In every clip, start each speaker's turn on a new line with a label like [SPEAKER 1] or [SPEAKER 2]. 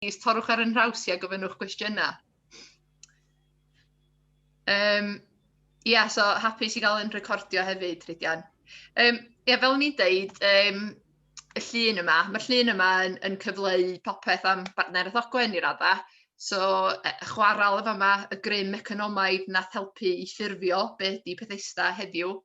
[SPEAKER 1] plîs torrwch ar yn nhraws i a gofynnwch gwestiynau. Um, Ie, yeah, so hapus i gael yn recordio hefyd, Rhydian. Um, Ie, yeah, fel ni'n deud, um, y llun yma, mae'r llun yma yn, yn cyfleu popeth am bartner Ethogwen i radda. So, e, chwarael efo yma, y grym economaidd nath helpu i ffurfio be ydi Pethesda heddiw.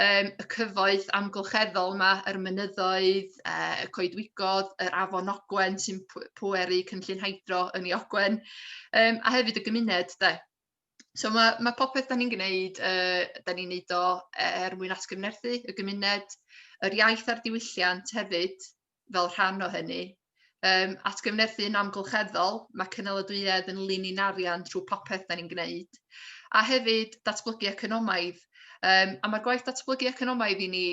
[SPEAKER 1] Yym y cyfoeth amgylcheddol yma, yr mynyddoedd, yy y coedwigoedd, yr afon Ogwen sy'n pweru cynllun hydro yn ei Ogwen, um, a hefyd y gymuned de. So mae, mae popeth da ni'n gwneud, uh, da ni'n neud o er mwyn atgyfnerthu y gymuned, yr iaith a'r diwylliant hefyd, fel rhan o hynny. Um, atgyfnerthu yn amgylcheddol, mae cynaladwyedd yn lun i'n arian trwy popeth da ni'n gwneud. A hefyd, datblygu economaidd. Um, a mae'r gwaith datblygu economaidd i ni,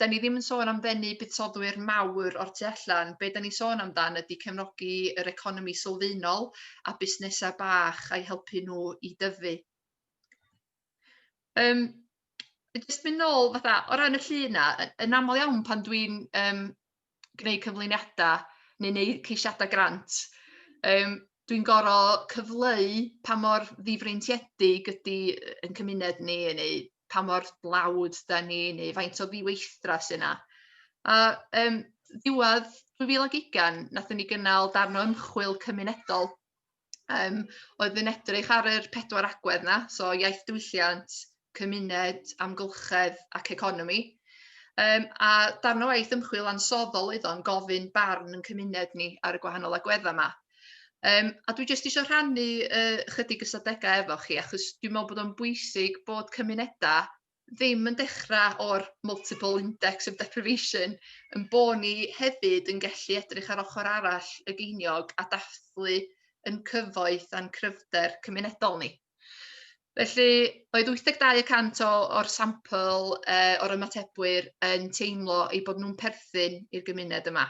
[SPEAKER 1] da ni ddim yn sôn am ddenu buddsodwyr mawr o'r tu allan. Be da ni sôn amdan ydy cefnogi yr economi sylfaenol a busnesau bach a'i helpu nhw i dyfu. Yym jyst mynd nôl fatha o ran y llun 'na y- yn aml iawn pan dwi'n yym gwneud cyflwyniada neu neud ceisiada grant yym dwi'n goro cyfleu pa mor ddifreintiedig ydi yy ein cymuned ni neu pa mor dlawd 'dan ni neu faint o ddiweithdra sy 'na a yym ddiwadd 2020 nathon ni gynnal darn o ymchwil cymunedol yym oedd yn edrych ar yr pedwar agwedd 'na, so iaith diwylliant, cymuned, amgylchedd ac economi. Um, a darn o waith ymchwil ansoddol oedd o'n gofyn barn yn cymuned ni ar y gwahanol agweddau yma. Um, a dwi jyst eisiau rhannu uh, chydig ystadegau efo chi, achos dwi'n meddwl bod o'n bwysig bod cymunedau ddim yn dechrau o'r multiple index of deprivation, yn bo ni hefyd yn gallu edrych ar ochr arall y geiniog a dathlu yn cyfoeth a'n cryfder cymunedol ni. Felly, oedd 82 y cant o, o'r sampl uh, o'r ymatebwyr yn teimlo ei bod nhw'n perthyn i'r gymuned yma.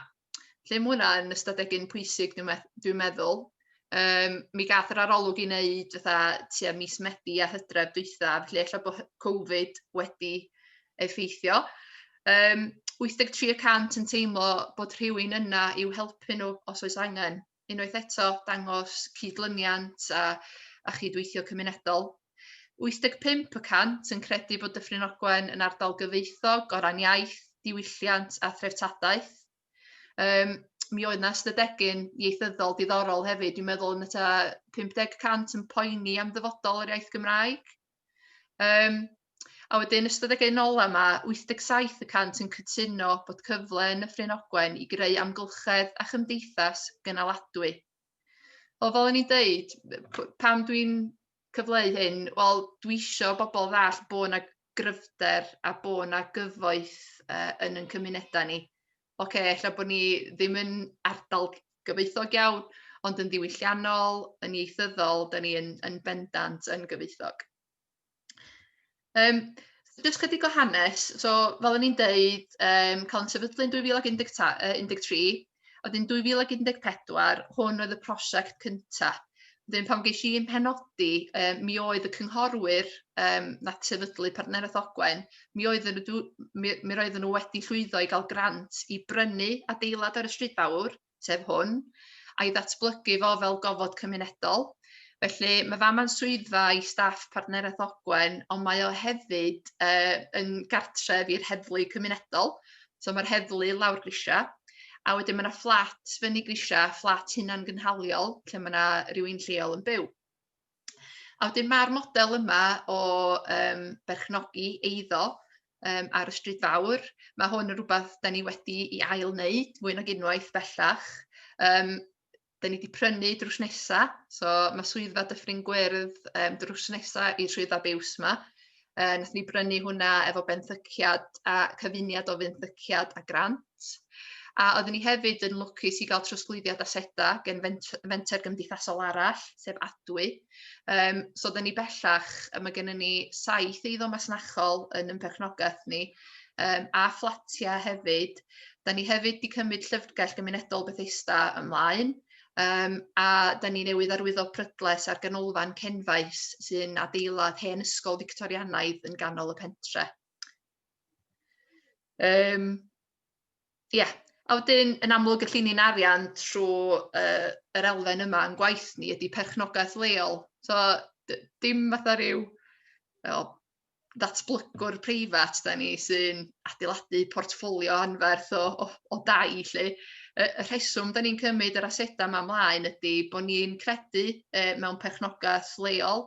[SPEAKER 1] Lle mae hwnna yn ystadegyn pwysig, dwi'n me dwi meddwl. Um, mi gath yr arolwg i wneud fatha tua mis Medi a hydref dwytha, felly efallai bod Covid wedi effeithio. Um, 83 y cant yn teimlo bod rhywun yna i'w helpu nhw os oes angen. unwaith eto dangos cydlyniant a, a chydweithio cymunedol. 85 y cant yn credu bod Dyffryn Ogwen yn ardal gyfeithog o ran iaith, diwylliant a threftadaeth. Um, mi oedd yna ystadegyn ieithyddol diddorol hefyd, dwi'n meddwl yn y ta 50 cant yn poeni am ddyfodol yr iaith Gymraeg. Um, a wedyn ystod ag ein ola yma, 87 y cant yn cytuno bod cyfle yn y Ffrin Ogwen i greu amgylchedd a chymdeithas gynaladwy. Wel, fel o'n i'n deud, pam dwi'n cyfleu hyn, wel, dwi eisiau bobl ddall bod yna gryfder a bod yna gyfoeth uh, yn yn cymunedau ni. ocê, ella bod ni ddim yn ardal gyfoethog iawn, ond yn ddiwylliannol, yn ieithyddol, da ni yn, yn bendant yn gyfoethog. Um, Just chydig o hanes, so fel o'n i'n deud, um, cael yn sefydlu yn 2013, oedd yn 2014, hwn oedd y prosiect cyntaf. Wedyn pan ges i'n penodi, yy mi oedd y cynghorwyr yym nath sefydlu Partneriaeth Ogwen, mi oedden nhw mi mi roedden nhw wedi llwyddo i gael grant i brynu adeilad ar y stryd fawr, sef hwn, a'i ddatblygu fo fel gofod cymunedol. Felly mae fama'n swyddfa i staff Partneriaeth Ogwen, ond mae o hefyd yy yn gartref i'r heddlu cymunedol. So mae'r heddlu lawr grisiau, a wedyn mae yna fflat fyny grisiau, fflat hunan gynhaliol, lle mae yna rhywun lleol yn byw. A wedyn mae'r model yma o um, berchnogi eiddo um, ar y stryd fawr, mae hwn yn rhywbeth da ni wedi i ail wneud fwy nag unwaith bellach. Um, 'da ni 'di prynu drws nesa, so ma' swyddfa Dyffryn Gwyrdd um, drws nesa i swyddfa biws yma. Uh, nath ni brynu hwnna efo benthyciad a cyfuniad o fenthyciad a grant. A oeddwn ni hefyd yn lwcus i gael trosglwyddiad aseda gen fenter gymdeithasol arall, sef Adwy. Um, so oeddwn ni bellach, y mae gennym ni saith eiddo masnachol yn ymperchnogaeth ni, um, a fflatiau hefyd, Da ni hefyd wedi cymryd llyfrgell gymunedol Bethesda ymlaen um, a da ni newydd arwyddo prydles ar ganolfan Cenfaes sy'n adeilad hen ysgol Victorianaidd yn ganol y pentre. Um, yeah. A wedyn, yn amlwg, y llini'n arian trwy uh, yr elfen yma yn gwaith ni ydy perchnogaeth leol. So, dim fatha rhyw oh, ddatblygwr preifat da ni sy'n adeiladu portffolio anferth o, o, o dai lle. Y, y rheswm da ni'n cymryd yr asedau yma mlaen ydy bod ni'n credu e, mewn perchnogaeth leol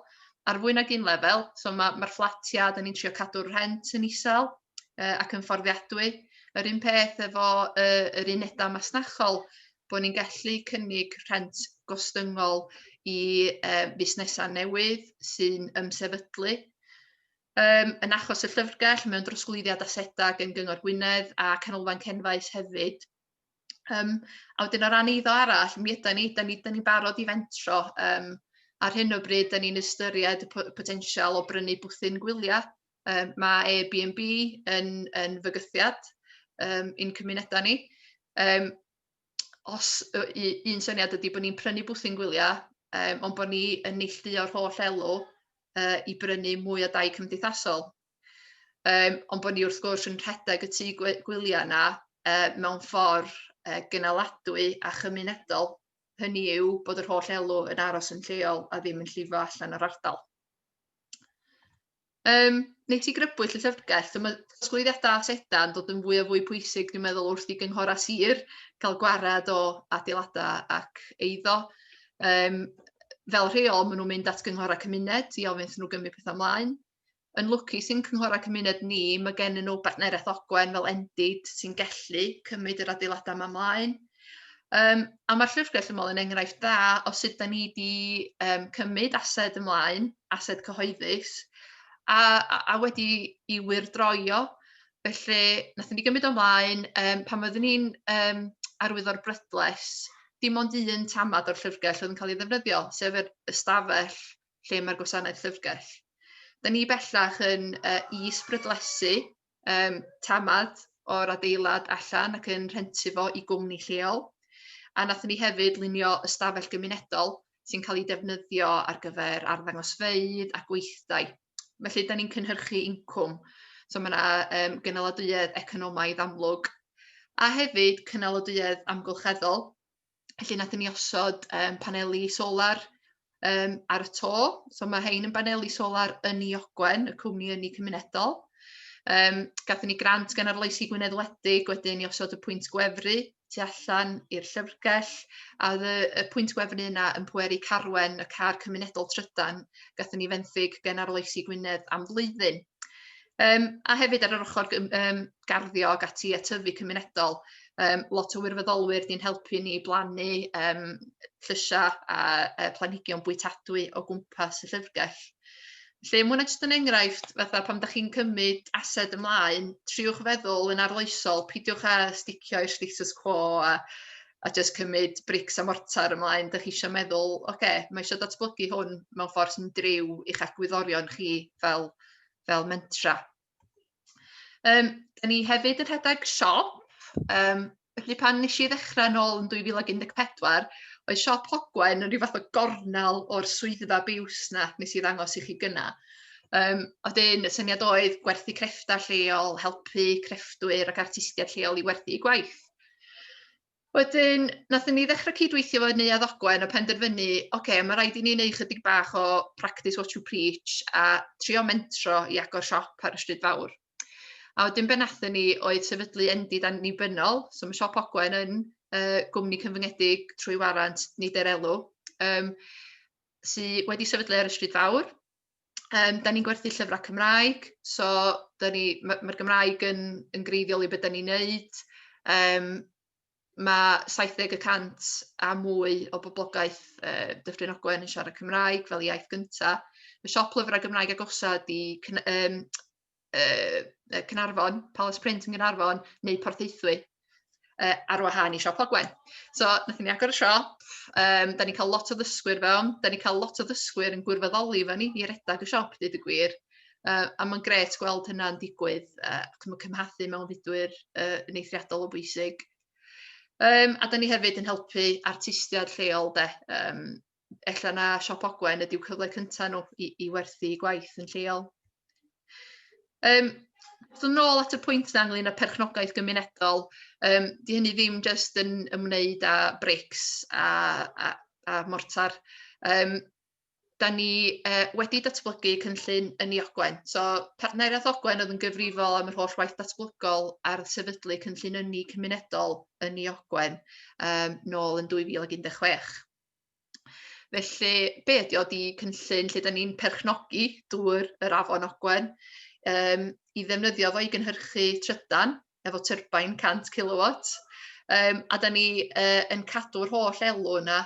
[SPEAKER 1] ar fwy nag un lefel. So mae'r ma, ma fflatiau, da ni'n trio cadw'r rhent yn isel, uh, ac yn fforddiadwy. Yr un peth efo uh, yr unedau masnachol, bod ni'n gallu cynnig rhent gostyngol i uh, fusnesau newydd sy'n ymsefydlu. Um, yn achos y llyfrgell, mewn drosglwyddiad asedau gen Gyngor Gwynedd a Canolfan Cenfaes hefyd. Um, a wedyn o ran eiddo arall, mi ydy ni, da ni, da ni barod i fentro. Um, ar hyn o bryd, da ni'n ystyried y potensial o brynu bwthyn gwyliau Yym ma' Airbnb yn yn fygythiad yym i'n cymunedau ni. Yym os yy u- un syniad ydy bod ni'n prynu bwthyn gwyliau yym ond bod ni yn neillduo'r holl elw yy i brynu mwy o dai cymdeithasol. Yym ond bod ni wrth gwrs yn rhedeg y tŷ gwe- gwyliau yna yy mewn ffordd yy gynaladwy a chymunedol, hynny yw bod yr holl elw yn aros yn lleol a ddim yn llifo allan o'r ardal. Yym, neu ti grybwyll y llyfrgell, so mae trosglwyddiadau a sedau yn dod yn fwy a fwy pwysig, dwi'n meddwl, wrth i gynghora sir cael gwared o adeiladau ac eiddo. Um, fel rheol, maen nhw'n mynd at gynghora cymuned i ofyn nhw gymryd pethau ymlaen. Yn lwcu sy'n cynghora cymuned ni, mae gen nhw bartneriaeth ogwen fel endid sy'n gallu cymryd yr adeiladau yma ymlaen. Um, a mae'r llyfrgell ymol yn enghraifft dda o sut da ni wedi um, cymryd ased ymlaen ased cyhoeddus a, a, a wedi i wirdroio. Felly, nath ni gymryd ymlaen, um, pan oeddwn ni'n um, arwyddo'r brydles, dim ond un tamad o'r llyfrgell oedd yn cael ei ddefnyddio, sef yr ystafell lle mae'r gwasanaeth llyfrgell. Da ni bellach yn uh, is-brydlesu um, tamad o'r adeilad allan ac yn rhentu fo i gwmni lleol. A nath ni hefyd lunio ystafell gymunedol sy'n cael ei defnyddio ar gyfer arddangosfeydd a gweithdai. Felly, da ni'n cynhyrchu incwm. So mae yna um, gynaladwyedd economaidd amlwg. A hefyd cynaladwyedd amgylcheddol. Felly nathon ni osod yym paneli solar um, ar y to. So mae hein yn baneli solar yn i Ogwen, y cwmni yn i cymunedol. Um, gathen ni grant gan arloesi Gwynedd Wledig, wedyn ni osod y pwynt gwefru tu allan i'r llyfrgell, a oedd y, y pwynt gwefru yna yn pweru carwen y car cymunedol trydan, gathen ni fenthyg gan arloesi Gwynedd am flwyddyn. Um, a hefyd ar yr ochr um, garddio ac ati a tyfu cymunedol, um, lot o wirfoddolwyr ni'n helpu ni blannu um, llysiau a, a planhigion bwytadwy o gwmpas y llyfrgell. Felly, mwyn jyst yn enghraifft, fatha pan ydych chi'n cymryd ased ymlaen, triwch feddwl yn arloesol, pidiwch a sticio i'r status quo a, a just cymryd brics a mortar ymlaen, ydych chi eisiau meddwl, oce, okay, mae eisiau datblygu hwn mewn ffordd sy'n driw i'ch agwyddorion chi fel fel mentra. Um, da ni hefyd yn rhedeg siop, um, felly pan nes i ddechrau yn ôl yn 2014, oedd siop Hogwen yn rhyw fath o gornel o'r swyddfa biws na nes i ddangos i chi gyna. Um, a wedyn y syniad oedd gwerthu crefftau lleol, helpu crefftwyr ac artistiaid lleol i werthu eu gwaith. Wedyn, wnaethon ni ddechrau cydweithio efo Neuadd Ogwen a penderfynu, ocê, ma' raid i ni wneud chydig bach o practice what you preach a trio mentro i agor siop ar y stryd fawr. A wedyn be wnaethon ni oedd sefydlu Endid Annibynnol, so mae Siop Ogwen yn uh, gwmni cyfyngedig trwy warant nid er elw, um, sydd wedi sefydlu ar y stryd fawr, Um, da ni'n gwerthu llyfrau Cymraeg, so mae'r ma Gymraeg yn, yn greiddiol i beth da ni'n neud. Um, mae 70% a mwy o boblogaeth uh, Dyffryn Ogwen yn siarad Cymraeg fel iaith gyntaf. Mae siop lyfrau Gymraeg agosa di um, yy Caernarfon, Palace Print yn Gaernarfon, neu Porthaethwy, uh, ar wahân i Siop Ogwen. So, nath ni agor y siop, um, da ni'n cael lot o ddysgwyr fewn, da ni'n cael lot o ddysgwyr yn gwirfoddoli fe ni i redag y siop, dweud y gwir. Uh, a mae'n gret gweld hynna'n digwydd uh, ac yn cymhathu mewn fudwyr uh, yn eithriadol o bwysig. Um, a da ni hefyd yn helpu artistiaid lleol de, um, ella na siop Ogwen ydyw cyfle cynta nhw i i werthu eu gwaith yn lleol. Yym so nôl at y pwynt 'na ynglŷn â perchnogaeth gymunedol yym 'di hynny ddim jyst yn ymwneud â brics a a a mortar yym 'dan ni yy wedi datblygu cynllun yn ei Ogwen so partneriaeth Ogwen oedd yn gyfrifol am yr holl waith datblygol ar sefydlu cynllun ynni cymunedol yn ei Ogwen yym nôl yn 2016. Felly, be ydi o? Di cynllun lle da ni'n perchnogi dŵr yr afon Ogwen um, i ddefnyddio fo i gynhyrchu trydan efo tyrbain 100 kilowatt. Um, a da ni uh, yn cadw'r holl elw yna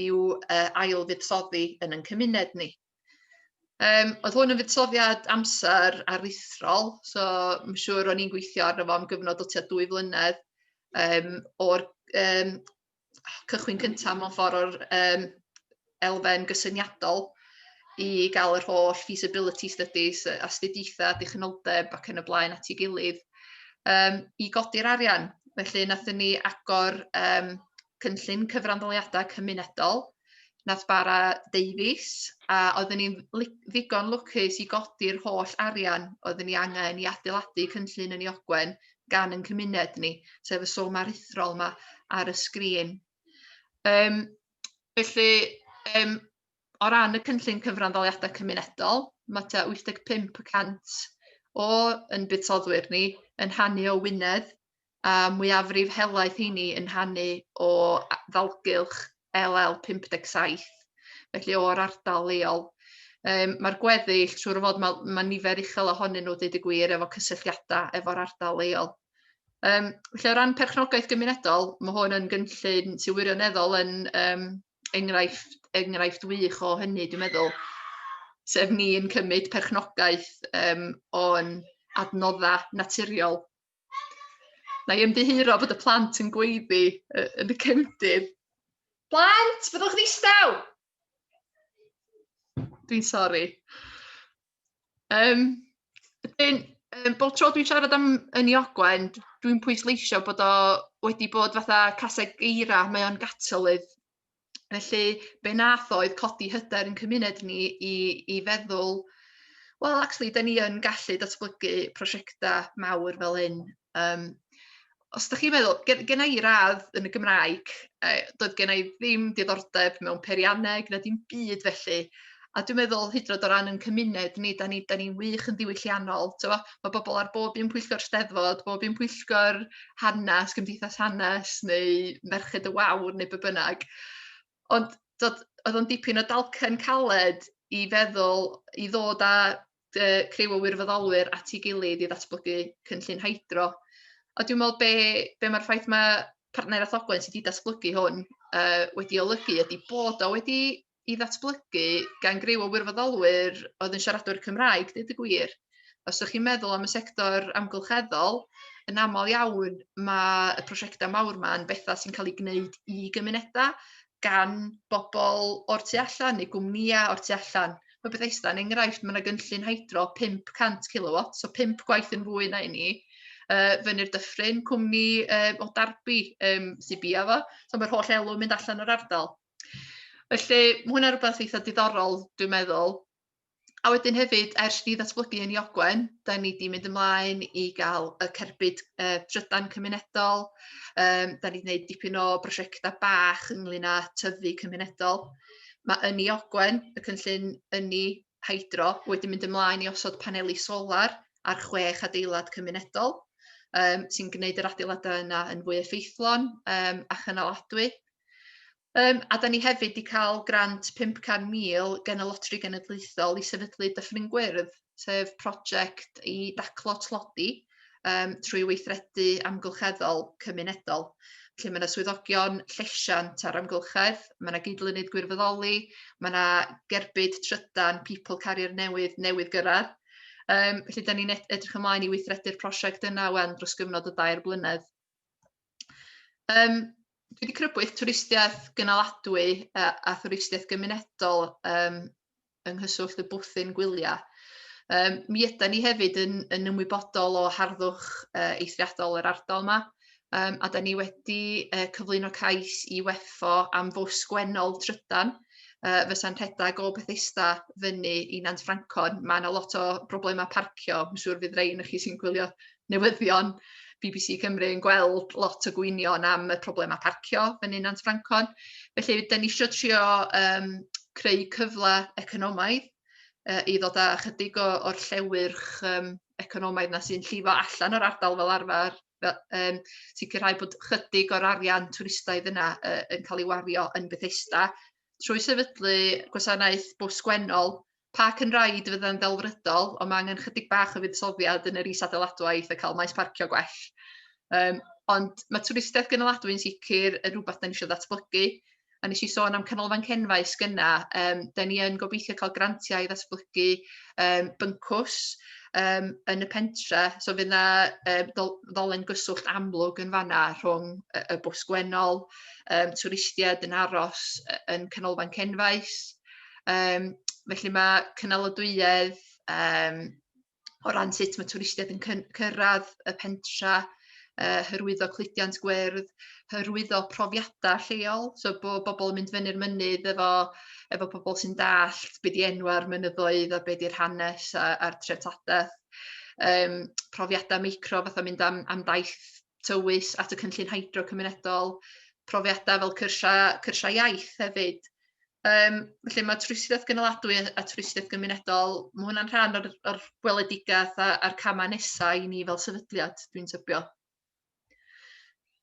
[SPEAKER 1] i'w uh, ail fuddsoddi yn yn cymuned ni. Um, oedd hwn yn fuddsoddiad amser aruthrol, so mae'n siŵr o'n i'n gweithio arno fo am gyfnod o tua dwy flynedd um, o'r um, cychwyn cyntaf mewn ffordd o'r um, elfen gysyniadol i gael yr holl feasibility studies, astudiaethau, dichnoldeb ac yn y blaen at ei gilydd um, i godi'r arian. Felly, nathyn ni agor um, cynllun cyfranddoliadau cymunedol, nath bara deifis, a oeddwn ni'n ddigon lwcus i godi'r holl arian oeddwn ni angen i adeiladu cynllun yn ei ogwen gan yn cymuned ni, sef y sôn aruthrol yma ar y sgrin. Um, felly, um, o ran y cynllun cyfranddoliadau cymunedol, mae 85% o yn budsoddwyr ni yn hannu o Wynedd a mwyafrif helaeth heini yn hannu o ddalgylch LL 57, felly o'r ardal leol. Um, Mae'r gweddill, siwr o fod, mae, mae nifer uchel ohonyn nhw, dweud y gwir, efo cysylltiadau efo'r ardal leol. Um, felly o ran perchnogaeth gymunedol, mae hwn yn gynllun sy'n wirioneddol yn um, enghraifft, enghraifft wych o hynny, dwi'n meddwl, sef ni'n cymryd perchnogaeth um, o'n adnoddau naturiol Na i ymddiheuro bod y plant yn gweiddi uh, yn y cefndir. Plant, byddwch yn eistedd! Dwi'n sori. Um, dyn, um, bob tro dwi'n siarad am yn i ogwen, dwi'n pwysleisio bod o wedi bod fatha caseg eira, mae o'n gatalydd Felly be nath oedd codi hyder yn cymuned ni i i feddwl wel actually 'dyn ni yn gallu datblygu prosiecta mawr fel hyn Um, os da chi'n meddwl gen genna i radd yn y Gymraeg yy doedd genna i ddim diddordeb mewn peirianneg na dim byd felly A dwi'n meddwl hyd yn oed o ran ein cymuned ni, da ni da ni'n wych yn ddiwylliannol, t'mo'? Ma' bobl ar bob un pwyllgor Steddfod, bob un pwyllgor hanes, Cymdeithas Hanes neu Merched y Wawr neu be' bynnag. Ond t'od oedd o'n dipyn o dalcen caled i feddwl i ddod â dy criw o wirfoddolwyr at ei gilydd i ddatblygu cynllun hydro. A dwi'n meddwl be' be' ma'r ffaith ma' partneriaeth Ogwen sy 'di datblygu hwn yy wedi olygu ydi bod o wedi i ddatblygu gan griw o wirfoddolwyr oedd yn siaradwyr Cymraeg, dweud y gwir. Os ydych chi'n meddwl am y sector amgylcheddol, yn aml iawn mae y prosiectau mawr yma yn bethau sy'n cael eu gwneud i gymunedau gan bobl o'r tu allan neu gwmnïau o'r tu allan. Mae Bethesda yn enghraifft, mae yna gynllun hydro 500 kilowatt, so 5 gwaith yn fwy na i ni, uh, fyny'r dyffryn, cwmni uh, o Darby um, sy'n bia fo, so mae'r holl elw mynd allan o'r ardal. Felly, mae hwnna'n rhywbeth eitha diddorol, dwi'n meddwl. A wedyn hefyd, ers ni ddatblygu yn Iogwen, da ni wedi mynd ymlaen i gael y cerbyd uh, trydan cymunedol, um, da ni wedi gwneud dipyn o brosiectau bach ynglyn â tyfu cymunedol. Mae yn Iogwen, y cynllun ynni hydro, wedi mynd ymlaen i osod paneli solar ar chwech adeilad cymunedol, um, sy'n gwneud yr adeiladau yna yn fwy effeithlon um, a chynaladwy Um, a da ni hefyd wedi cael grant 500,000 gen y Lotri Genedlaethol i sefydlu Dyffryn Gwyrdd, sef prosiect i daclo tlodi um, trwy weithredu amgylcheddol cymunedol lle mae yna swyddogion llesiant ar amgylchedd, mae yna gydlynydd gwirfoddoli, mae yna gerbyd trydan people carrier newydd newydd gyrraedd. Um, felly, da ni'n edrych ymlaen i weithredu'r prosiect yna wen dros gyfnod o dair blynedd. Um, dwi wedi crybwyll twristiaeth gynaladwy a, a thwristiaeth gymunedol um, yng nghyswllt y bwthyn gwyliau. Um, mi yda ni hefyd yn, yn ymwybodol o harddwch uh, eithriadol yr ardal yma, um, a da ni wedi uh, cyflwyno cais i weffo am fws gwennol trydan, uh, fysa'n rhedeg o Bethesda fyny i Nant Ffrancon. Mae yna lot o broblemau parcio, mae'n siŵr fydd rei yn chi sy'n gwylio newyddion BBC Cymru yn gweld lot o gwynion am y problemau parcio yn un Nant Francon. Felly, da ni eisiau trio um, creu cyfle economaidd uh, i ddod â chydig o, o'r llewyrch um, economaidd na sy'n llifo allan o'r ardal fel arfer, fel, um, sicrhau bod chydig o'r arian twristaidd yna uh, yn cael ei wario yn Bethesda, trwy sefydlu gwasanaeth bws gwennol Park and Ride fydd yn ddelfrydol, ond mae angen chydig bach o fuddsoddiad yn yr is-adeiladwaith a cael maes parcio gwell. Um, ond mae twristiaeth gynaladwy'n sicr yn rhywbeth da ni eisiau ddatblygu. A nes i sôn am canolfan cenfais gyna, um, da ni yn gobeithio cael grantiau i ddatblygu um, byncws um, yn y pentre. So fydd yna um, ddolen gyswllt amlwg yn fanna rhwng y, y bws gwennol, um, twristiaid yn aros yn canolfan cenfais. Yym felly mae cynaliadwyedd yym o ran sut mae twristiaid yn cyn- cyrraedd y pentra, yy hyrwyddo cludiant gwyrdd, hyrwyddo profiadau lleol, so bod bobl yn mynd fyny'r mynydd efo efo pobl sy'n dallt be di enwau'r mynyddoedd a be di'r hanes a, a'r treftadaeth. Yym profiadau meicro fatha mynd am am daith tywys at y cynllun hydro cymunedol, profiadau fel cyrsiau cyrsiau iaith hefyd. Um, felly mae twristiaeth gynaladwy a twristiaeth gymunedol, mae hwnna'n rhan o'r, or gweledigaeth a'r camau nesau i ni fel sefydliad, dwi'n tybio.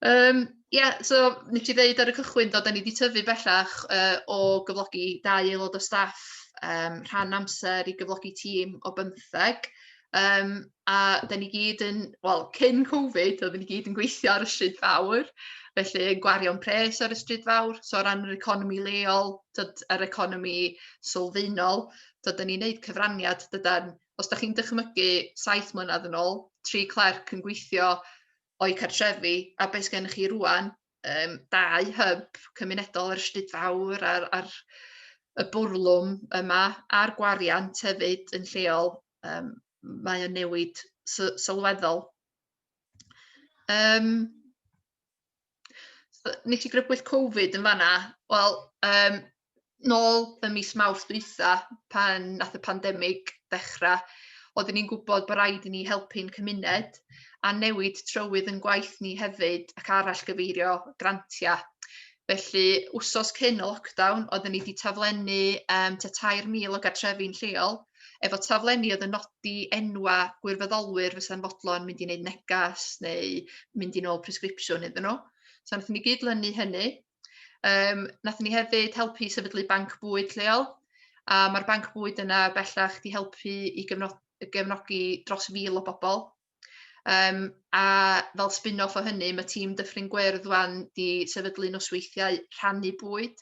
[SPEAKER 1] Um, yeah, so nes i ddeud ar y cychwyn dod, da ni wedi tyfu bellach uh, o gyflogi dau aelod o staff um, rhan amser i gyflogi tîm o bymtheg. Um, a da ni gyd yn, wel, cyn Covid, oedden ni gyd yn gweithio ar y stryd fawr, felly yn gwario'n pres ar y stryd fawr, so o ran yr economi leol, tyd, yr economi sylfaenol, tyd, da ni'n neud cyfraniad, dydan, os da chi'n dychmygu saith mlynedd yn ôl, tri clerc yn gweithio o'i cartrefi, a beth gennych chi rwan, um, dau hyb cymunedol yr Ystryd Fawr a'r, ar y bwrlwm yma a'r gwariant hefyd yn lleol, um, mae o'n newid sylweddol. Um, nes i grybwyll Covid yn fanna, wel, um, nôl ym mis Mawrth dwytha pan nath y pandemig ddechra oedden ni'n gwbod bo' raid i ni helpu'n cymuned a newid trywydd yn gwaith ni hefyd ac arall gyfeirio grantia. Felly wsos cyn y lockdown oedden ni 'di taflennu um, ta 3,000 o gartrefi'n lleol efo taflenni oedd yn nodi enwa' gwirfoddolwyr fysa'n fodlon mynd i wneud negas neu mynd i nôl presgripsiwn iddyn nhw. So nath ni gyd-lynu hynny Um, nath ni hefyd helpu i sefydlu banc bwyd lleol, a mae'r banc bwyd yna bellach di helpu i gyfnod, gefnogi dros fil o bobl. Um, a fel spin-off o hynny, mae tîm Dyffryn Gwyrdd wan di sefydlu nosweithiau rhannu bwyd.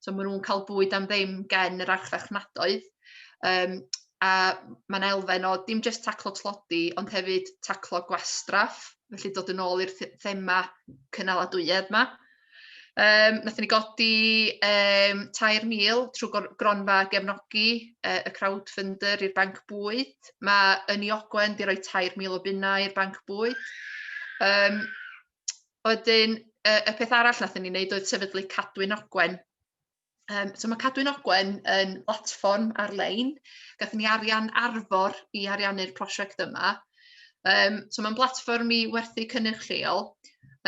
[SPEAKER 1] So maen nhw'n cael bwyd am ddim gen yr archfarchnadoedd. Um, a mae'n elfen o dim jyst taclo tlodi, ond hefyd taclo gwastraff, felly dod yn ôl i'r thema cynaladwyedd yma. Um, nath ni godi um, 3,000 trwy gronfa gefnogi uh, y crowdfunder i'r banc bwyd. Mae yn i ogwen di roi 3,000 o bunnau i'r banc bwyd. Um, wedyn, uh, y peth arall nath ni wneud oedd sefydlu cadwyn ogwen. Um, so mae Cadwyn Ogwen yn platfform ar-lein. Gathen ni arian arfor i ariannu'r prosiect yma. Um, so mae'n platfform i werthu cynnyrch lleol,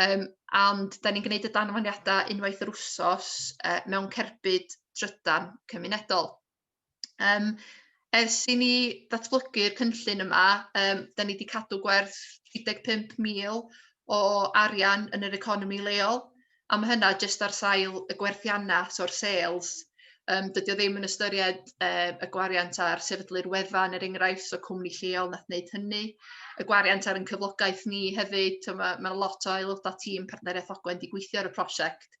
[SPEAKER 1] um, ond da ni'n gwneud y danfaniadau unwaith yr wsos uh, mewn cerbyd trydan cymunedol. Um, ers i ni ddatblygu'r cynllun yma, um, da ni wedi cadw gwerth 35,000 o arian yn yr economi leol, a mae hynna jyst ar sail y gwerthiannau, so'r sales. Um, dydy o ddim yn ystyried uh, y gwariant ar sefydlu'r wefan, er enghraifft, so cwmni lleol nath wneud hynny. Y gwariant ar yn cyflogaeth ni hefyd, so mae, mae lot o aelodau tîm partneriaeth Ogwen di gweithio ar y prosiect.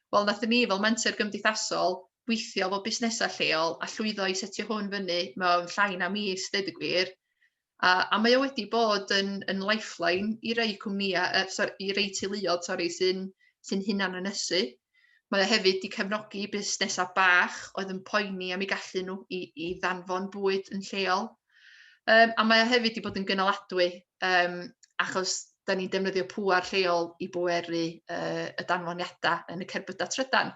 [SPEAKER 1] Wel nathon ni fel menter gymdeithasol weithio efo busnesau lleol a llwyddo i setio hwn fyny mewn llai na mis deud y gwir. A, a mae o wedi bod yn, yn lifeline i rei cwmnïau, uh, sorry, i rei teuluodd sorry, sy'n sy hunan ynysu. Mae o hefyd wedi cefnogi busnesau bach oedd yn poeni am ei gallu nhw i, i ddanfon bwyd yn lleol. Um, a mae o hefyd wedi bod yn gynaladwy, um, achos da ni'n defnyddio pŵar lleol i bweru uh, y danfoniadau yn y cerbydau trydan.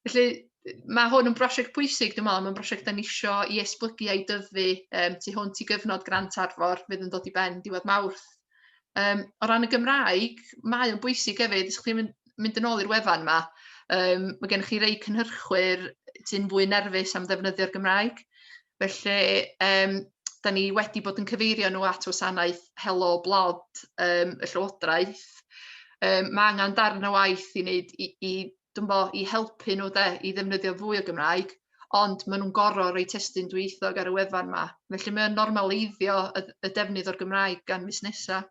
[SPEAKER 1] Felly, mae hwn yn brosiect pwysig, dwi'n meddwl, mae'n brosiect da ni isio i esblygu a'i dyfu um, tu hwnt i gyfnod grant arfor fydd yn dod i ben diwedd mawrth. Um, o ran y Gymraeg, mae o'n bwysig hefyd, ysgwch chi'n mynd, mynd yn ôl i'r wefan yma, um, mae gennych chi rei cynhyrchwyr sy'n fwy nerfus am ddefnyddio'r Gymraeg, Felly yym dan ni wedi bod yn cyfeirio nhw at wasanaeth Helo Blod yym y Llywodraeth. Yym ma' angen darn o waith i wneud i i dwmbo i helpu nhw de i ddefnyddio fwy o Gymraeg, ond maen nhw'n gorfod rhoi testun dwyieithog ar y wefan 'ma. Felly mae o'n normaleiddio y y defnydd o'r Gymraeg gan fusnesau.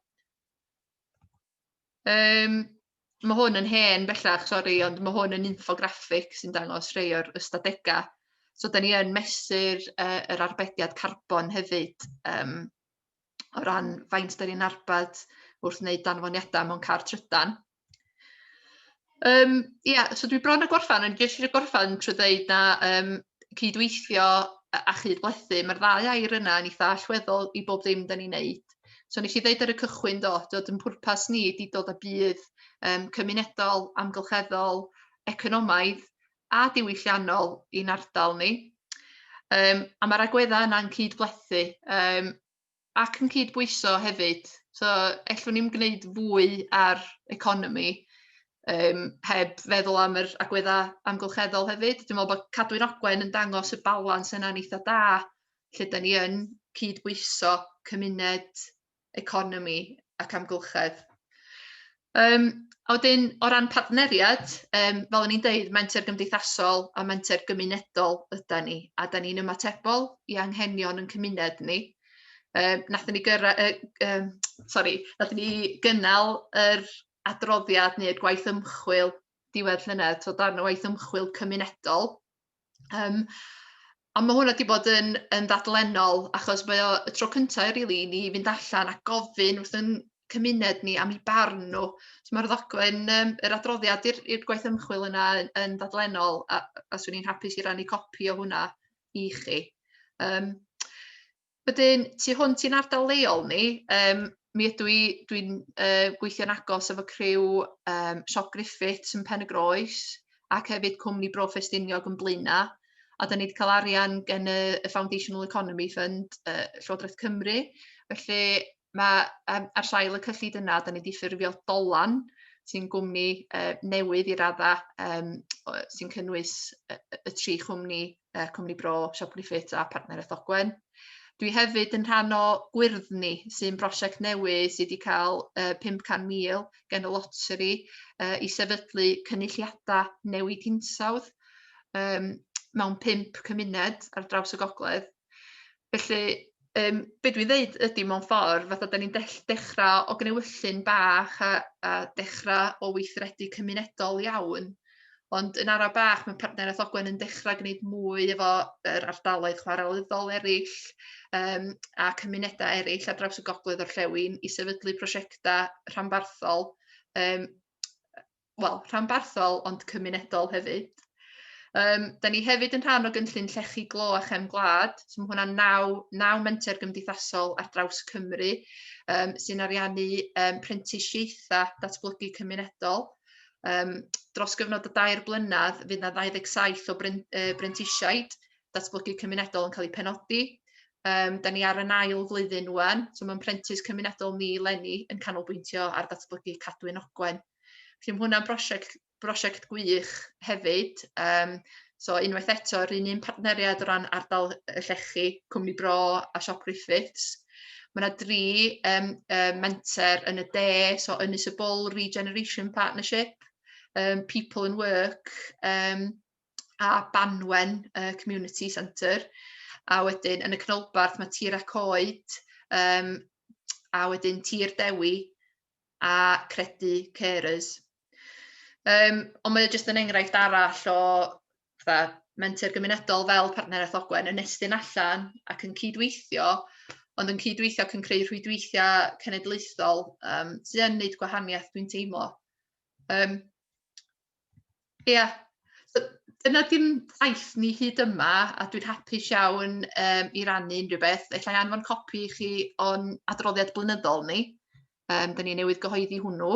[SPEAKER 1] Um, mae hwn yn hen bellach, sori, ond mae hwn yn infograffig sy'n dangos rhai o'r ystadegau. So, da ni yn mesur uh, yr arbediad carbon hefyd um, o ran faint da ni'n arbed wrth wneud danfoniadau mewn car trydan. Yym ia so dwi bron a gorffan ond jyst isio gorffan trwy ddeud na yym cydweithio a a chydblethu ma'r ddau air yna yn eitha allweddol i bob dim 'dan ni'n neud. So nes i ddeud ar y cychwyn do t'od yn pwrpas ni ydi dod â budd yym cymunedol, amgylcheddol, economaidd a diwylliannol i'n ardal ni. Yym a ma'r agwedda' yna'n cydblethu yym ac yn cydbwyso hefyd, so ellwn ni'm gwneud fwy ar economi yym heb feddwl am yr agweddau amgylcheddol hefyd, dwi'n meddwl bod Cadwyn Ogwen yn dangos y balans yna'n eitha' da lle 'dan ni yn cydbwyso cymuned, economi ac amgylchedd. Yym a wedyn o ran partneriad yym fel o'n i'n deud menter gymdeithasol a menter gymunedol ydan ni a 'dan ni'n ymatebol i anghenion ein cymuned ni. Yy nathon ni gyrra- yy yym sori nathon ni gynnal yr adroddiad neu'r gwaith ymchwil diwedd llynedd t'wod darn o waith ymchwil cymunedol. Yym a ma' hwnna 'di bod yn yn ddadlennol achos mae o y tro cynta i rili i ni fynd allan a gofyn wrth 'yn cymuned ni am 'u barn nhw. So ma'r ddogfen yym yr adroddiad i'r i'r gwaith ymchwil yna yn yn ddadlennol a a swn i'n hapus i rannu copi o hwnna i chi. Yym. Wedyn tu hwnt i'n ardal leol ni yym mi ydw i dwi'n yy gweithio'n agos efo criw yym Siop Griffiths yn Pen-y-groes ac hefyd cwmni Bro Ffestiniog yn Blaena', a 'dan ni 'di ca'l arian gen y y Foundational Economy Fund yy Llywodraeth Cymru felly Mae um, ar sail y cyllid yna, da ni wedi ffurfio Dolan, sy'n gwmni uh, newydd i radda, um, sy'n cynnwys y, y tri chwmni, uh, Cwmni Bro, Siop Griffith a Partner Ethogwen. Dwi hefyd yn rhan o Gwyrddni, sy'n brosiect newydd sydd wedi cael uh, 500,000 gen y loteri uh, i sefydlu cynulliadau newid hinsawdd um, mewn pimp cymuned ar draws y gogledd. Felly yym be' dwi ddeud ydi mewn ffordd fatha 'dan ni'n dell- dechra o gnewyllyn bach a a dechra o weithredu cymunedol iawn ond yn ara' bach ma' partneriaeth Ogwen yn dechra gneud mwy efo yr ardaloedd chwarelyddol eryll yym a cymuneda eryll ar draws y gogledd orllewin i sefydlu prosiecta rhanbarthol yym wel, rhanbarthol ond cymunedol hefyd. Um, da ni hefyd yn rhan o gynllun Llechi Glo a Chefn Gwlad, so mae hwnna'n naw, naw menter gymdeithasol ar draws Cymru um, sy'n ariannu um, prentisiaethau datblygu cymunedol. Um, dros gyfnod o dair blynedd, fydd yna 27 o brentisiaid datblygu cymunedol yn cael eu penodi. Um, da ni ar y nail flwyddyn wan, so mae'n prentis cymunedol ni lenni yn canolbwyntio ar datblygu cadwyn ogwen. Felly mae hwnna'n brosiect, brosiect gwych hefyd. Um, so unwaith eto, yr un un partneriad o ran ardal y llechi, Cwmni Bro a Siop Griffiths. Mae yna dri um, um, menter yn y de, so Ynys y Bwl Regeneration Partnership, um, People and Work um, a Banwen uh, Community Centre. A wedyn yn y canolbarth mae Tir a Coed um, a wedyn Tir Dewi a credu carers. Um, ond mae jyst yn enghraifft arall o fatha, menter gymunedol fel partneriaeth Ogwen yn estyn allan ac yn cydweithio, ond yn cydweithio ac yn creu rhwydweithiau cenedlaethol um, sy'n gwneud gwahaniaeth dwi'n teimlo. Um, Ia, so dyna dim taith ni hyd yma a dwi'n hapus iawn yym i rannu unrhyw beth. Alla i anfon copi i chi o'n adroddiad blynyddol ni, yym 'dan ni newydd gyhoeddi hwnnw,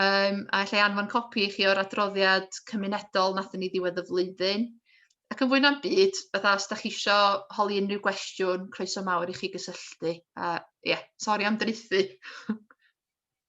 [SPEAKER 1] yym a alla i anfon copi i chi o'r adroddiad cymunedol nathon ni ddiwedd y flwyddyn, ac yn fwy na'm byd fatha os 'dach chi isio holi unrhyw gwestiwn croeso mawr i chi gysylltu a ia sori am draethu!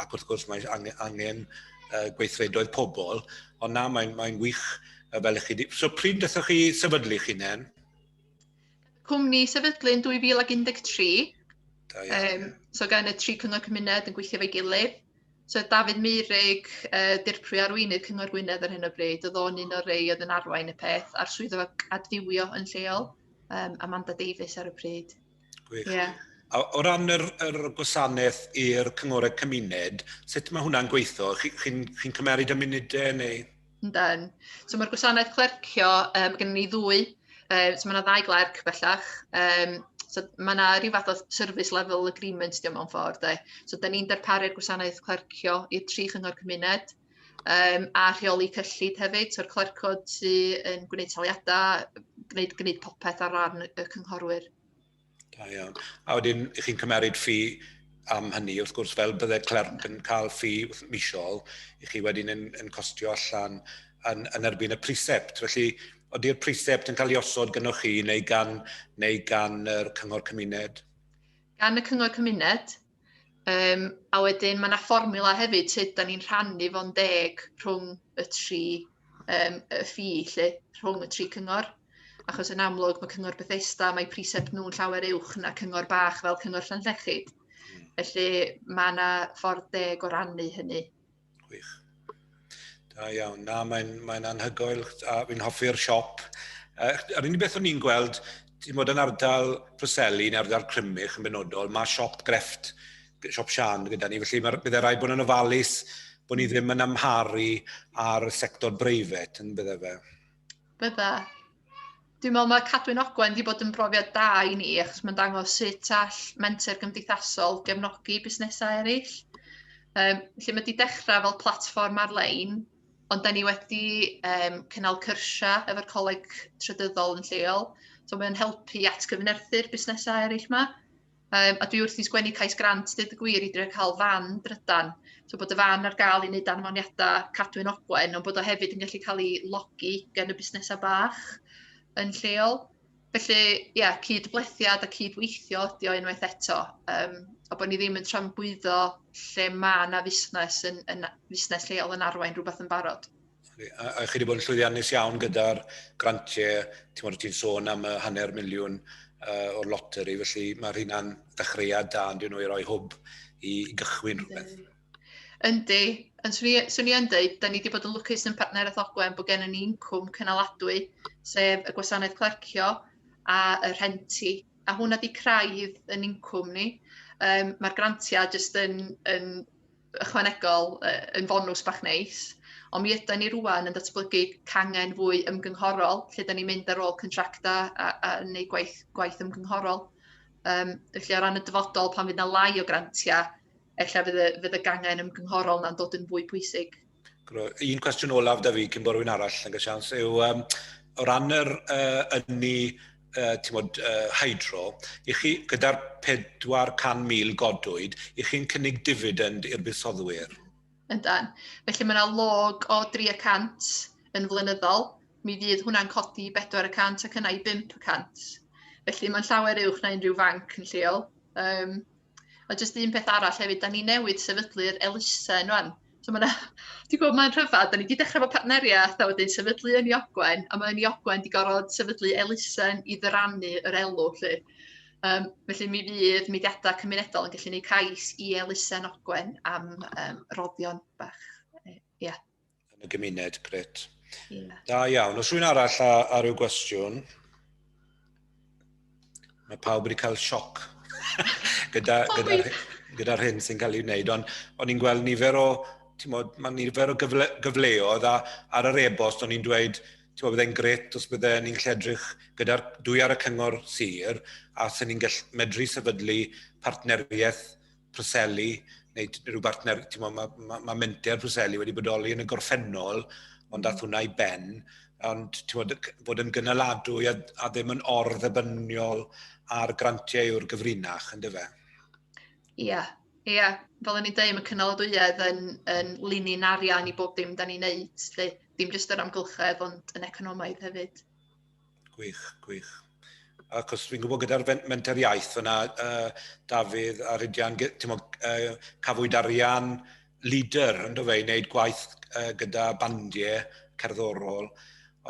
[SPEAKER 2] ac wrth gwrs mae angen, angen uh, gweithredoedd pobl, ond na, mae'n mae wych uh, fel ych chi di. So pryd ddethwch chi sefydlu chi nen?
[SPEAKER 1] Cwmni sefydlu yn 2013. Da iawn. Um, so gan y tri cyngor cymuned yn gweithio fe gilydd. So Dafydd Meurig, uh, dirprwy arweinydd Cyngor Gwynedd ar hyn o bryd, oedd o'n un o'r rei oedd yn arwain y peth, a'r swyddog adfywio yn lleol, um, Amanda Davies ar y pryd. Gwych. Ie.
[SPEAKER 2] A o ran yr, yr gwasanaeth i'r cyngorau cymuned, sut mae hwnna'n gweithio? Chi'n chi, chi cymeryd y munudau neu? Yndan.
[SPEAKER 1] So mae'r gwasanaeth clercio, um, gen ni ddwy, um, so mae yna ddau glerc bellach. Um, so mae yna rhyw fath o service level agreement diolch mewn ffordd. De. So da ni'n darparu'r gwasanaeth clercio i'r tri chyngor cymuned. Yym, a rheoli cyllid hefyd, so'r clercod sy yn gwneud taliadau, gwneud, gwneud popeth ar ran y cynghorwyr. Da
[SPEAKER 2] iawn. A wedyn, ych chi'n cymeryd ffi am hynny, wrth gwrs, fel bydde clerc yn cael ffi misol, i chi wedyn yn, yn costio allan yn, yn erbyn y prisept. Felly, oeddi'r prisept yn cael ei osod gynnwch chi neu gan, neu gan yr cyngor cymuned? Gan y
[SPEAKER 1] cyngor cymuned, Yym, a wedyn mae yna fformula hefyd sut da ni'n rhannu fo'n deg rhwng y tri um, y ffi lle, rhwng y tri cyngor. Achos yn amlwg mae cyngor Bethesda, mae precept nhw'n llawer uwch na cyngor bach fel cyngor Llanllechid. Hmm. Felly mae yna ffordd deg o rannu hynny. Gwych.
[SPEAKER 2] Da iawn. Na, mae'n mae anhygoel. A fi'n hoffi'r siop. Uh, yr unig beth o'n i'n gweld, ti'n bod yn ardal Preseli neu ardal Crymych yn benodol, mae siop grefft, siop Sian gyda ni, felly mae byddai rai bod yn ofalus bod ni ddim yn amharu ar y sector breifet yn bydde fe. Bydda.
[SPEAKER 1] Dwi'n meddwl mae Cadwyn Ogwen wedi bod yn brofiad da i ni, achos mae'n dangos sut all menter gymdeithasol gefnogi busnesau eraill. Um, lle mae wedi dechrau fel platfform ar-lein, ond da ni wedi um, cynnal cyrsiau efo'r coleg trydyddol yn lleol. So mae'n helpu at gyfnerthu'r busnesau eraill yma. Um, a dwi wrth i sgwennu cais grant, dweud y gwir, i drio cael fan drydan. So bod y fan ar gael i wneud anfoniadau cadwyn ogwen, ond bod o hefyd yn gallu cael ei logi gan y busnesau bach yn lleol. Felly, ie, yeah, cyd-blethiad a cyd-weithio ydi o unwaith eto. Um, a bod ni ddim yn trambwyddo lle mae yna fusnes, yn, yn, fusnes lleol yn arwain rhywbeth yn barod. A, a chi wedi
[SPEAKER 2] bod yn llwyddiannus iawn gyda'r grantiau, ti'n modd ti'n sôn am y hanner miliwn uh, o'r loteri, felly mae rhywun dechreuad da yn dyn nhw i roi hwb i gychwyn rhywbeth. Yndi,
[SPEAKER 1] yn swn i yn dweud, da ni wedi bod yn lwcus yn partneriaeth Ogwen bod gennym ni incwm cynaladwy, sef y gwasanaeth clercio a y rhenti, a hwnna di craidd yn incwm ni. Um, Mae'r grantiau jyst yn, yn ychwanegol yn fonws bach neis, ond mi yda ni rwan yn datblygu cangen fwy ymgynghorol, lle da ni'n mynd ar ôl contracta a, a neu gwaith, gwaith ymgynghorol. Um, felly o ran y dyfodol, pan fydd na lai o grantiau, efallai fydd y, fydd y gangen ymgynghorol na'n dod yn fwy pwysig. Un cwestiwn
[SPEAKER 2] olaf da fi cyn bod rhywun arall yn cael sians yw um, o ran yr uh, ynni uh, tymod, uh, hydro, i chi gyda'r 400,000 godwyd, i chi'n cynnig dividend i'r buddsodwyr? Yndan.
[SPEAKER 1] Felly mae yna log o 300 yn flynyddol, mi fydd hwnna'n codi 400 ac yna i 500. Felly mae'n llawer uwch na unrhyw fanc yn lleol. Um, A jyst un peth arall hefyd, da ni newid sefydlu'r elusen rwan. So mae yna, ti'n gwybod, mae'n rhyfedd, da ni wedi dechrau fo partneriaeth a wedyn sefydlu yn Iogwen, a mae yn Iogwen wedi gorfod sefydlu elusen i ddyrannu yr elw, lle. Um, felly mi fydd mudiadau cymunedol yn gallu gwneud cais i elusen Ogwen am um, roddion bach. Ie. Yeah. yn y
[SPEAKER 2] gymuned, gret. Yeah. Da
[SPEAKER 1] iawn. Os rwy'n
[SPEAKER 2] arall a, a rhyw gwestiwn, mae pawb wedi cael sioc gyda'r gyda, gyda, gyda hyn sy'n cael ei wneud, ond o'n i'n gweld nifer o, mod, mae nifer o gyfle, gyfleoedd a ar yr e-bost o'n i'n dweud, ti'n bod, byddai'n gret os bydde ni'n lledrych gyda'r dwy ar y cyngor sir a sy'n ni'n medru sefydlu partneriaeth Preseli, neu rhyw bartner, ti'n mo, mae ma, ma menter Preseli wedi bodoli yn y gorffennol, ond dath hwnna i ben, ond ti'n mo, bod yn gynaladwy a, a ddim yn orddebynniol ar grantiau yw'r gyfrinach, yn dyfa? Ie, yeah,
[SPEAKER 1] ie. Yeah. Fel o'n i'n dweud, mae cynaladwyedd yn, yn linyn arian i bob dim da ni'n neud, lle, dim jyst yr amgylchedd, ond yn economaidd hefyd. Gwych,
[SPEAKER 2] gwych. Achos fi'n gwybod gyda'r menter iaith fyna, uh, Dafydd a Rhydian, uh, cafwyd arian leader yn dofeu, wneud gwaith uh, gyda bandiau cerddorol,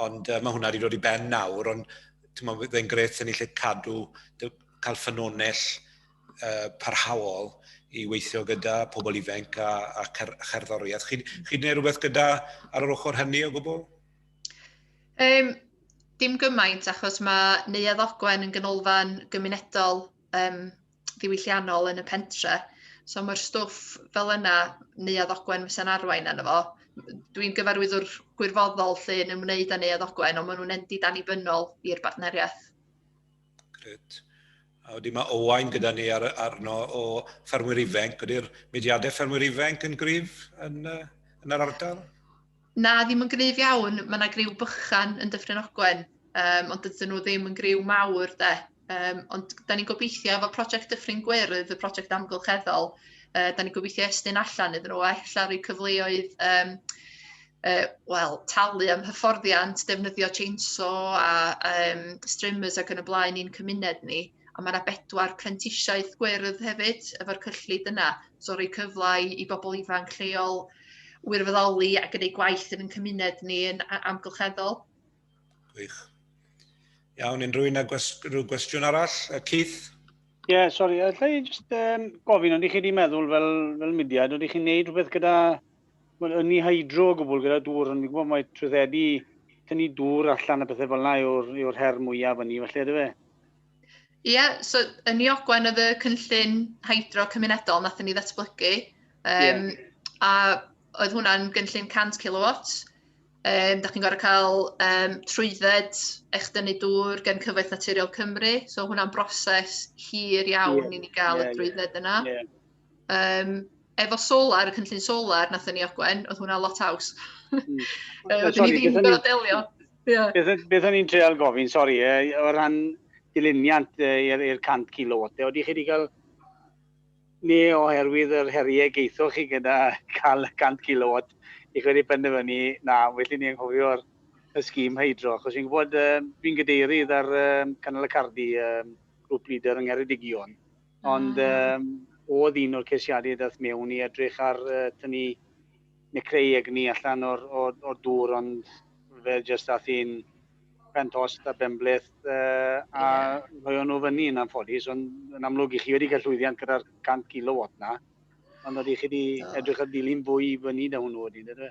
[SPEAKER 2] ond uh, mae hwnna wedi dod i ben nawr, ond fe'n gret sy'n ni lle cadw, cael ffynonell uh, parhaol i weithio gyda pobl ifanc a, a cer, cherddoriaeth. Chi'n chi gwneud rhywbeth gyda ar yr ochr hynny o gwbl? Um,
[SPEAKER 1] dim gymaint achos mae Neuadd Ogwen yn ganolfan gymunedol um, ddiwylliannol yn y pentre. So mae'r stwff fel yna, Neuadd Ogwen fysa'n arwain arno fo. Dwi'n gyfarwyddwr gwirfoddol lle yn ymwneud â Neuadd Ogwen, ond maen nhw'n endi dan i bynol i'r bartneriaeth. Grêt.
[SPEAKER 2] A wedyn mae Owain gyda ni ar, arno o ffermwyr ifenc. Ydy'r mudiadau ffermwyr ifenc yn gryf yn, yn yr ardal? Na, ddim
[SPEAKER 1] yn gryf iawn. Mae yna griw bychan yn Dyffryn Ogwen, um, ond dydyn nhw ddim yn griw mawr de. Um, ond da ni'n gobeithio efo prosiect Dyffryn Gwyrdd, y prosiect amgylcheddol, uh, da ni'n gobeithio estyn allan iddyn nhw a efallai rhoi cyfleoedd um, uh, wel, talu am hyfforddiant, defnyddio chainsaw a um, streamers ac yn y blaen i'n cymuned ni. A mae yna bedwar prentisiaeth gwyrdd hefyd efo'r cyllid yna. So rhoi cyflau i bobl ifanc lleol wirfoddoli a gwneud gwaith yn ein cymuned ni yn amgylcheddol. Gwych.
[SPEAKER 2] Iawn, unrhyw un â rhyw gwestiwn arall? Keith? Ie, yeah, sori,
[SPEAKER 3] allai jyst um, gofyn, ond i chi wedi meddwl fel, fel mudiad, oeddech chi'n gwneud rhywbeth gyda Mae'n ynni hydro o gwbl gyda dŵr, ond fi'n gwybod mai trwyddedu, tynnu dŵr allan a pethau fel yna yw'r yw her mwyaf ynni, felly ydy fe? Ie, yeah, so yn Ni
[SPEAKER 1] Ogwen oedd y cynllun hydro cymunedol nath ni ddatblygu, um, yeah. a oedd hwnna'n gynllun 100 kilowatt, Um, da chi'n gorau cael um, trwydded eich dynnu dŵr gen Cyfoeth Naturiol Cymru, so hwnna'n broses hir iawn yeah, i ni gael yeah, y drwydded yna. Yeah. Um, efo solar, y cynllun solar nath ni ogwen, oedd hwnna lot haws. Mm. uh, Dyn ni ddim yn delio. Beth
[SPEAKER 3] o'n i'n treol gofyn, sori, e, o ran diluniant i'r 100 kilowatt, e, oeddech chi wedi cael ni oherwydd yr heriau geithoch chi gyda cael 100 kilowatt, i chi wedi penderfynu, na, felly ni anghofio'r y sgîm hydro, achos fi'n gwybod, uh, fi'n gadeirydd ar um, Canol y Cardi, um, grŵp leader yng Ngheredigion, Ond um, oedd un o'r ceisiadau dath mewn i edrych ar uh, tynnu neu creu egni allan o'r, o'r, or dŵr, ond fe jyst dath un pentost a benbleth uh, a yeah. rhoi nhw fyny yn anffodus, ond yn amlwg i chi wedi cael llwyddiant gyda'r 100 kilowatt na, ond oeddech chi wedi edrych ar dilyn fwy i fyny da hwnnw wedyn, ydw?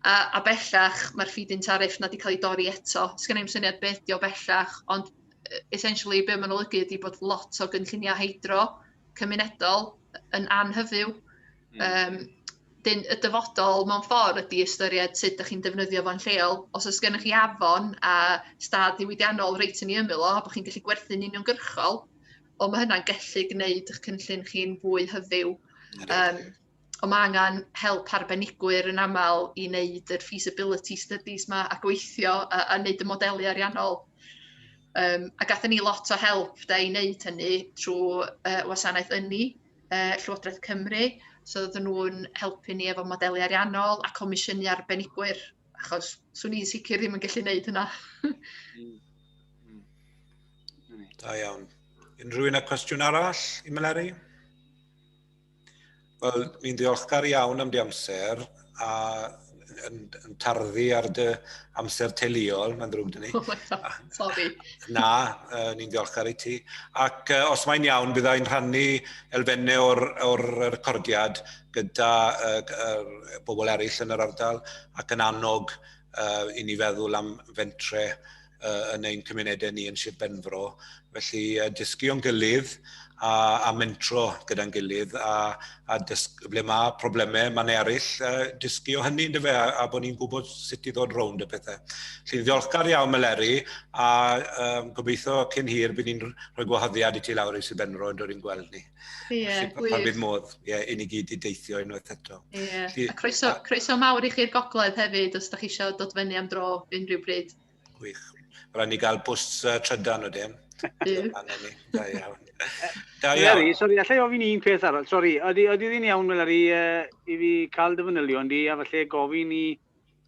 [SPEAKER 1] A, a bellach, mae'r feed-in tariff na wedi cael ei dorri eto. Sgynna i'm syniad beth ydi o bellach, ond e, essentially be' ma'n olygu ydi bod lot o gynlluniau hydro cymunedol yn anhyfyw. Mm. Um, dyn, y dyfodol mewn ffordd ydi ystyried sut ydych chi'n defnyddio fo'n lleol. Os oes gennych chi afon a stad diwydiannol reit yn ei ymyl o, bod chi'n gallu gwerthu'n uniongyrchol, o mae hynna'n gallu gwneud eich cynllun chi'n fwy hyfyw. Um, Ond mae angen help arbenigwyr yn aml i wneud yr feasibility studies yma a gweithio a, a wneud y modelu ariannol. Um, a gathen ni lot o help da i wneud hynny trwy uh, wasanaeth ynni, uh, Llywodraeth Cymru. So oedden nhw'n helpu ni efo modelu ariannol a comisiynu arbenigwyr, achos swn i'n sicr ddim yn gallu wneud hynna. Mm, mm. Mm.
[SPEAKER 2] Da iawn. Unrhyw un â cwestiwn arall i Meleri? Wel, ni'n ddiolchgar iawn am dy amser a yn, yn tarddu ar dy amser teuluol, mae'n ddrwg dyn ni. Sorry.
[SPEAKER 1] Na,
[SPEAKER 2] uh, ni'n ddiolchgar i ti. Ac uh, os mae'n iawn, byddai yn rhannu elfennau o'r, or recordiad gyda uh, uh, bobl eraill yn yr ardal ac yn annog uh, i ni feddwl am fentre uh, yn ein cymunedau ni yn Sir Benfro. Felly uh, dysgu o'n gilydd a, a mentro gyda'n gilydd a, a dysg, ble mae problemau, mae'n ne eraill, uh, dysgu o hynny yn dyfa a, a bod ni'n gwybod sut i ddod rownd y pethau. Felly ddiolchgar iawn Meleri a um, gobeithio cyn hir bydd ni'n rhoi gwahoddiad i ti lawr i Sir Benfro yn dod i'n gweld ni. Ie, gwych. Pan bydd
[SPEAKER 1] modd,
[SPEAKER 2] ie, i ni gyd i deithio unwaith eto. Ie, a croeso,
[SPEAKER 1] a... croeso mawr i chi'r gogledd hefyd, os da chi eisiau dod fyny am dro unrhyw bryd. Gwych.
[SPEAKER 2] Rhaid ni gael bws uh, trydan o dim. Da iawn. Da iawn. Larry,
[SPEAKER 3] sori, allai ofyn un peth arall. Sori, ydy, ydy ddyn iawn, Larry, uh, i fi cael dy fanylion di, a falle gofyn i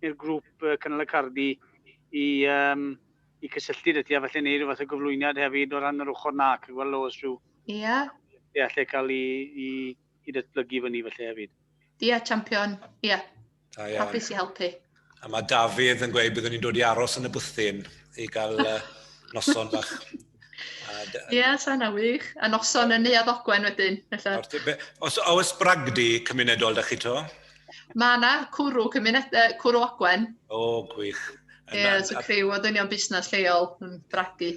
[SPEAKER 3] i'r grŵp uh, Cynnal y Cardi i, um, i cysylltu dy ti, a falle neud rhywbeth o gyflwyniad hefyd o ran yr ochr na, ac gweld os rhyw Ia.
[SPEAKER 1] Ie, lle cael
[SPEAKER 3] i, i, i datblygu fyny felly hefyd. Ie, champion,
[SPEAKER 1] ie. Da iawn. Hapus i helpu. A mae Dafydd
[SPEAKER 2] yn gweud byddwn ni'n dod i aros yn y bwthyn i gael uh, noson bach.
[SPEAKER 1] Ie, yeah, sana wych. A noson yn Neuad Ogwen wedyn. Os
[SPEAKER 2] oes bragdi cymunedol da chi to? Mae yna
[SPEAKER 1] cwrw, cymuned, uh, cwrw Ogwen. O, gwych.
[SPEAKER 2] Ie, yeah, so criw
[SPEAKER 1] o ddynion busnes lleol yn bragdi.